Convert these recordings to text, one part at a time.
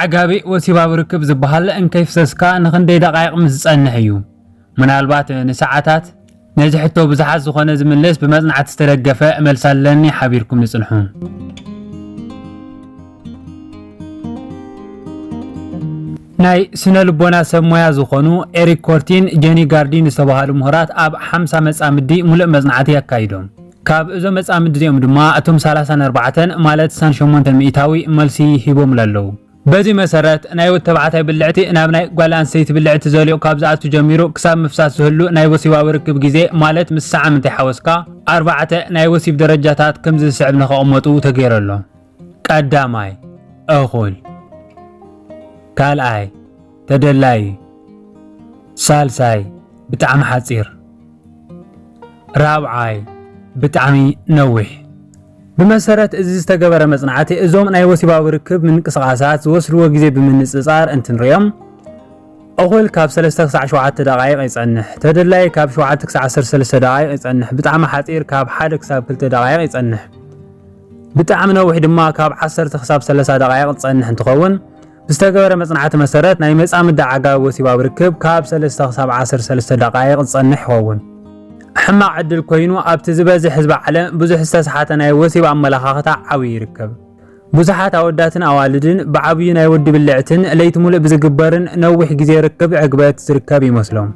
ኣዕጋቢ ወሲባዊ ርክብ ዝበሃል እንከይፍሰስካ ንኽንደይ ደቓይቕ ምስ ዝጸንሕ እዩ? ምናልባት ንሰዓታት? ነዚ ሕቶ ብዙሓት ዝኾነ ዝምልስ ብመጽናዕቲ ዝተደገፈ መልሲ ኣለኒ ሓቢርኩምኒ ጽንሑ። ናይ ስነ ልቦና ሰብ ሞያ ዝኾኑ ኤሪክ ኮርቲን ጀኒ ጋርዲን ዝተባሃሉ ምሁራት ኣብ ሓምሳ መጻምዲ ሙሉእ መጽናዕቲ ኣካይዶም። ካብ እዞም መጻምዲ እዚኦም ድማ እቶም ሰላሳን ኣርባዕተን ማለት ስሳን ሸሞንተን ሚኢታዊ መልሲ ሂቦምሉ ኣለዉ። በዚ መሰረት፣ ናይ ወዲ ተባዕታይ ብልዕቲ ናብ ናይ ጓል ኣንስተይቲ ብልዕቲ ዘልኦ ካብ ዝኣቱ ጀሚሩ ክሳብ ምፍሳስ ዝህሉ ናይ ወሲባዊ ርክብ ግዜ ማለት ምስ ሳዓምንተይ ሓወስካ ኣርባዕተ ናይ ወሲብ ደረጃታት ከምዚ ዝስዕብ ንኸቐመጡ ተገይሩ ኣሎ። ቀዳማይ፣ እኹል። ካልኣይ፣ ተደላዪ። ሳልሳይ፣ ብጣዕሚ ሓጺር። ራብዓይ፣ ብጣዕሚ ነዊሕ። ብመሰረት እዚ ዝተገበረ መፅናዕቲ እዞም ናይ ወሲባዊ ርክብ ምንቅስቓሳት ዝወስድዎ ግዜ ብምንፅፃር እንትንሪኦም እኹል ካብ ሰለስተ ክሳዕ ሸውዓተ ደቓይቕ ይፀንሕ፣ ተደላይ ካብ ሸውዓተ ክሳዕ ዓሰርተ ሰለስተ ደቓይቕ ይፀንሕ፣ ብጣዕሚ ሓፂር ካብ ሓደ ክሳብ ክልተ ደቓይቕ ይፀንሕ፣ ብጣዕሚ ነዊሕ ድማ ካብ ዓሰርተ ክሳብ ሰላሳ ደቓይቕ ዝፀንሕ እንትኸውን፣ ብዝተገበረ መጽናዕቲ መሰረት ናይ መጻምዲ ኣዕጋቢ ወሲባዊ ርክብ ካብ ሰለስተ ክሳብ ዓሰርተ ሰለስተ ደቓይቕ ዝጸንሕ ይኸውን። ሕማቕ ዕድል ኮይኑ ኣብቲ ዝበዝሕ ህዝቢ ዓለም ብዙሕ ዝተስሓተ ናይ ወሲብ ኣመለኻኽታ ዓብዩ ይርከብ። ብዙሓት ኣወዳትን ኣዋልድን ብዓብዩ ናይ ወዲ ብልዕትን ለይቲ ሙሉእ ብዝግበርን ነዊሕ ግዜ ርክብ ዕግበት ዝርከብ ይመስሎም።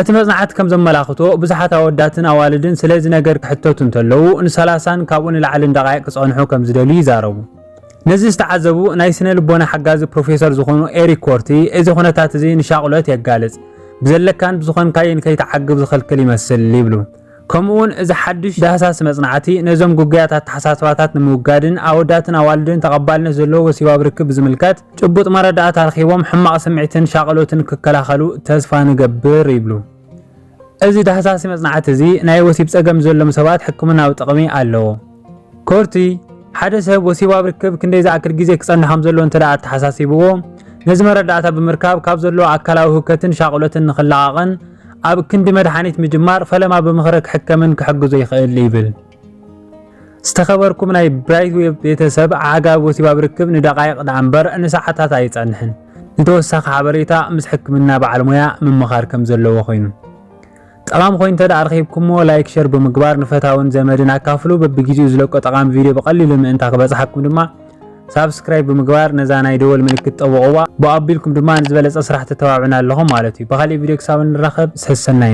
እቲ መጽናዕቲ ከም ዘመላኽቶ ብዙሓት ኣወዳትን ኣዋልድን ስለዚ ነገር ክሕተቱ እንተለዉ ንሰላሳን ካብኡ ንላዕልን ደቓይቕ ክጸንሑ ከም ዝደልዩ ይዛረቡ። ነዚ ዝተዓዘቡ ናይ ስነ ልቦና ሓጋዚ ፕሮፌሰር ዝኾኑ ኤሪክ ኮርቲ እዚ ኩነታት እዚ ንሻቕሎት የጋልጽ፣ ብዘለካን ብዝኾንካዮን ከይትዓግብ ዝኽልክል ይመስል ይብሉ። ከምኡ'ውን እዚ ሓድሽ ዳህሳሲ መጽናዕቲ ነዞም ግጉያት ኣተሓሳስባታት ንምውጋድን ኣወዳትን ኣዋልድን ተቐባልነት ዘለዎ ወሲባዊ ርክብ ብዝምልከት ጭቡጥ መረዳእታ ረኺቦም ሕማቕ ስምዒትን ሻቕሎትን ክከላኸሉ ተስፋ ንገብር ይብሉ። እዚ ዳህሳሲ መጽናዕቲ እዚ ናይ ወሲብ ጸገም ዘሎም ሰባት ሕክምናዊ ጥቕሚ ኣለዎ። ኮርቲ፣ ሓደ ሰብ ወሲባዊ ርክብ ክንደይ ዝኣክል ግዜ ክጸንሕ ከም ዘለዎ እንተድኣ ኣተሓሳሲብዎ፣ ነዚ መረዳእታ ብምርካብ ካብ ዘለዎ ኣካላዊ ህውከትን ሻቕሎትን ንኽለቓቕን ኣብ ክንዲ መድሓኒት ምጅማር ፈለማ ብምኽሪ ክሕከምን ክሕግዞ ይኽእል ይብል። ዝተኸበርኩም ናይ ብራይት ዌብ ቤተሰብ ዓጋብ ወሲብ ኣብ ርክብ ንደቓይቕ ደኣ እምበር ንሰዓታት ኣይጸንሕን። ንተወሳኺ ሓበሬታ ምስ ሕክምና በዓል ሞያ ምምኻር ከም ዘለዎ ኮይኑ ጠቓሚ ኮይኑ እንተደኣ ረኺብኩሞ ላይክ ሸር ብምግባር ንፈታውን ዘመድን ኣካፍሉ። በብግዜኡ ዝለቆ ጠቓሚ ቪድዮ ብቐሊሉ ምእንታ ክበጽሓኩም ድማ ሳብስክራይብ ብምግባር ነዛ ናይ ደወል ምልክት ጠውቕዋ ብኡ ኣቢልኩም ድማ ንዝበለጸ ስራሕ ተተባብዑና ኣለኹም ማለት እዩ። ብኻሊእ ቪድዮ ክሳብ እንራኸብ ሰሰናዩ።